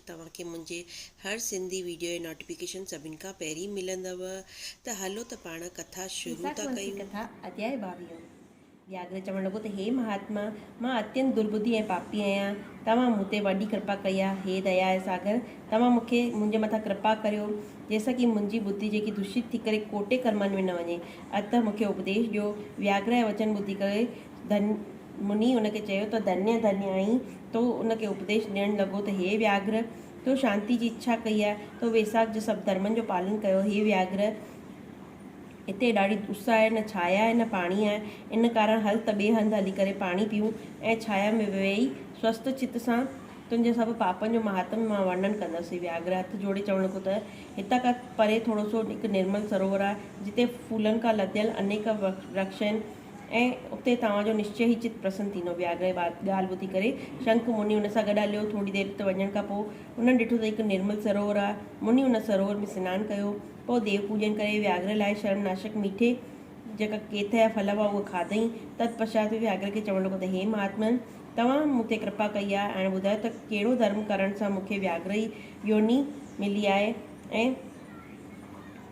توهان کي منهنجي هر سنڌي ويڊيو جي نوٽيفڪيشن سڀن کان پهرين ملندؤ ته هلو ته پاڻ ڪٿا شروع ٿا ڪيساڪوانسي ڪيون. ڪٿا اڌياء ٻاويهون، وياگره چوڻ لڳو ته هي مهاتما! مان اتينت درٻڌي ۽ پاپي آهيان، توهان مون تي وڏي ڪرپا ڪئي آهي، هي ديا جا ساگر! توهان مون کي منهنجي مٿان ڪرپا ڪريو، جنهن سان ڪي منهنجي ٻڌي جيڪي دوشت ٿي ڪري ڪوٽي ڪرمن ۾ نه وڃي، اتهه مون کي اپديش ڏيو. وياگره جا وچن ٻڌي ڪري ڌن مني ان کي چيو ته ڌنيء ڌنيء آهين تو ان کي اپديش ڏيڻ لڳو ته هي وياگهر! تو شانتيء جي اڇا ڪئي آهي، تو ويساک جي سڀ ڌرمن جو پالن ڪيو هي وياگهر! هتي ڏاڍي اس آهي، نه ڇايا آهي نه پاڻي آهي، ان ڪارڻ هل ته ٻئي هنڌ هلي ڪري پاڻي پيئون ۽ ڇايا ۾ ويهي سوست چت سان تنهنجي سڀ پاپن جو مهاتم مان ورنن ڪندس. هي وياگهر هٿ جوڙي چوڻ لڳو ته هتان کان پري ٿورو سو هڪ نرمل سروور آهي، جتي ڦولن کان لڌيل انيڪ ورڪش آهن، ۽ اتي توهان جو نشچي ئي چت پرسن ٿيندو. وياگرهه اها ڳالهه ٻڌي ڪري شنک مني ان سان گڏ هليو. ٿوري دير ات وڃڻ کان پوء هنن ڏٺو ته هڪ نرمل سروور آهي. مني ان سروور ۾ سنان ڪيو. پوء ديو پوڄن ڪري وياگرهه لاء شرم ناشڪ ميٺي جيڪا ڪيٿ يا ڦل هئا اهي کاڌئين. تت پشچات هو وياگرهه کي چوڻ لڳو ته هي مهاتمن! توهان مون تي ڪرپا ڪئي آهي. هاڻي ٻڌايو ته ڪهڙو ڌرم ڪرڻ سان مون کي وياگرهه يوني ملي آهي ۽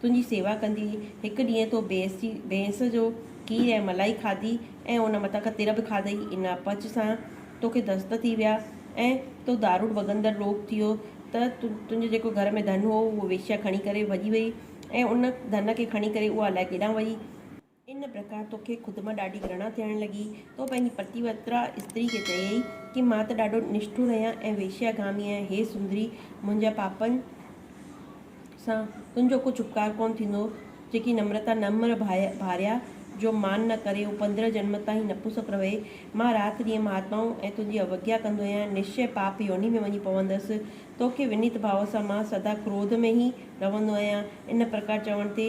تنهنجي سيوا ڪندي هڪ ڏينهن تو بيس جي بينس جو کير ۽ ملائي کاڌي ۽ ان مٿان کان تر به کاڌئي ان اپچ سان توکي دست ٿي ويا ۽ تو داروڙ ڀڳندڙ روڳ ٿي ويو ته تنهنجو جيڪو گهر ۾ ڌن هو اهو ويشيا کڻي ڪري ڀڄي وئي ۽ ان ڌن کي کڻي ڪري اها الائي ڪيڏانهن وئي ان پرڪار توکي خود مان ڏاڍي گرڻا ٿيڻ لڳي. تو پنهنجي پتيوترا استري کي چيئي ڪي مان ته ڏاڍو نشٺر آهيان ۽ ويشياگامي آهيان. هي سندري! منهنجا پاپن سان تنهنجو ڪجهه اپڪار ڪونه ٿيندو. جيڪي نمرتا نمر ڀاريا جو مان نه ڪري هو پندرهن جنم تائين نپسڪ رهي. مان رات ڏينهن مهاتمائون ۽ تنهنجي اوگيا ڪندو آهيان. نشچي پاپ يوني ۾ وڃي پوندس. توکي ونيت ڀاو سان مان سدا ڪروڌ ۾ ئي رهندو آهيان. ان پرڪار چوڻ تي.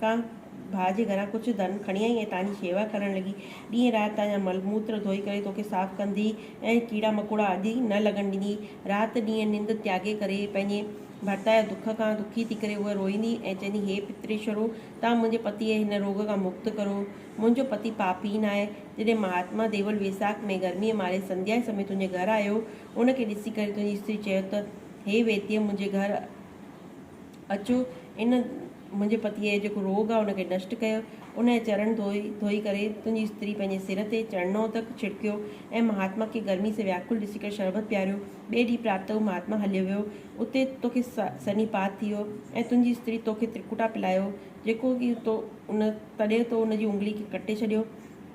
ڪا ڀاء جي گهران ڪجهه ڌن کڻي آئي ۽ تانجي شيوا ڪرڻ لڳي. ڏينهن رات تانجا مل موتر ڌوئي ڪري توکي صاف ڪندي ۽ ڪيڙا مڪوڙا آدي نه لڳڻ ڏيندي. رات ڏينهن ننڊ تياڳي ڪري پنهنجي ڀرتا جي دک کان دکي ٿي ڪري هوء روئيندي ۽ چوندي هي پتريشورو! توهان منهنجي پتيء جي هن روڳ کان مڪت ڪرو. منهنجو پتي پاپي ناهي. جڏهن مهاتما ديول ويساک ۾ گرميء ماري سنڌيا جي سمي تنهنجي گهر آيو، ان کي ڏسي ڪري تنهنجي استري چيو ته، هي ويتيه منهنجي گهر اچو ان منهنجي پتيء جو جيڪو روڳ آهي ان کي نشٽ ڪيو. ان جا چرڻ ڌوئي ڌوئي ڪري تنهنجي استري پنهنجي سر تي چڙنو تڪ ڇڙڪيو ۽ مهاتما کي گرمي سان وياڪل ڏسي ڪري شربت پياريو. ٻئي ڏينهن پراتپته هو مهاتما هليو ويو. اتي توکي سني پات ٿي ويو ۽ تنهنجي استري توکي ترڪوٽا پلائيو جيڪو ڪي تو ان تڏهن تو ان جي انگلي کي ڪٽي ڇڏيو.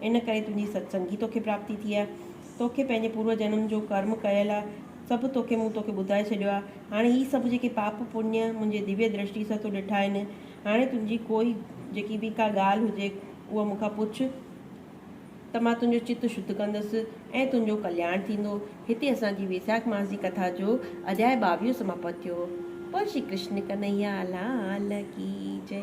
ان ڪري تنهنجي ستسنگ ئي توکي پراپتي ٿي آهي. توکي پنهنجي پورو جنم جو ڪرم ڪيل آهي، سڀ توکي مون توکي ٻڌائي ڇڏيو آهي. هاڻي هي سڀ جيڪي پاپ پڃ منهنجي ديوي درشٽي سان تو ڏٺا آهن، هاڻي تنهنجي ڪوئي جيڪي به ڪا ڳالهه هجي اها مون کان پڇ ته مان تنهنجو چت شڌ ڪندس ۽ تنهنجو ڪلياڻ ٿيندو. هتي اسان جي ويساک ماس جي ڪٿا جو اڌياء ٻاويهون سماپت ٿيو. بول شري ڪرشن ڪنهيا لال ڪي جئي.